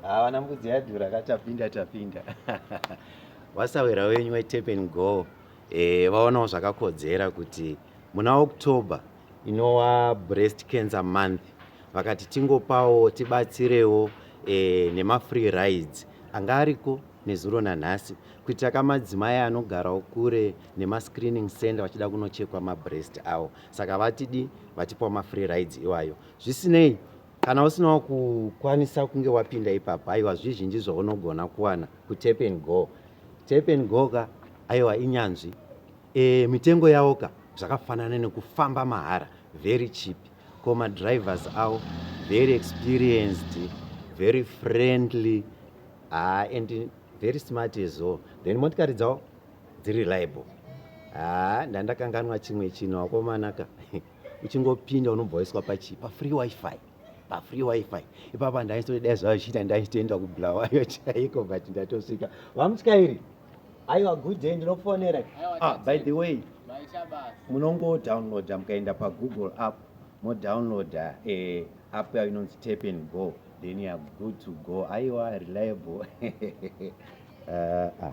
havana mbudzi yadhura ka tapinda tapinda wasawira wenyu wetapen go e, vaonawo zvakakodzera kuti muna october inowa breast cancer month vakati tingopawo tibatsirewo e, nemafree rides anga ariko nezuro nanhasi kuitira ka madzimai anogarawo kure nemascreening center vachida kunochekwa mabreast awo saka vatidi vatipawo mafree rides iwayo zvisinei kana usinawo kukwanisa kunge wapinda ipapo aiwa zvizhinji zvaunogona kuwana kutap and go tap and go ka aiwa inyanzvi E, mitengo yawo ka zvakafanana nekufamba mahara very cheap ko madrivers awo very experienced very friendly haa ah, and very smart as well then motikari dzawo dziri reliable haa ah, ndandakanganwa chimwe chinhu wakomana ka uchingopinda unobva waiswa pachii pafree wifi pafree wifi ipapa ndaisodai zvazvichiita ndaitoenda kubulawayo chaiko but ndatosvika vamutyairi Aiwa good day ndinofonera. Ah by the way. Munongo download mukaenda pa Google app mo download eh app yayo inonzi tap and go then you are good to go. Aiwa reliable. uh, ah.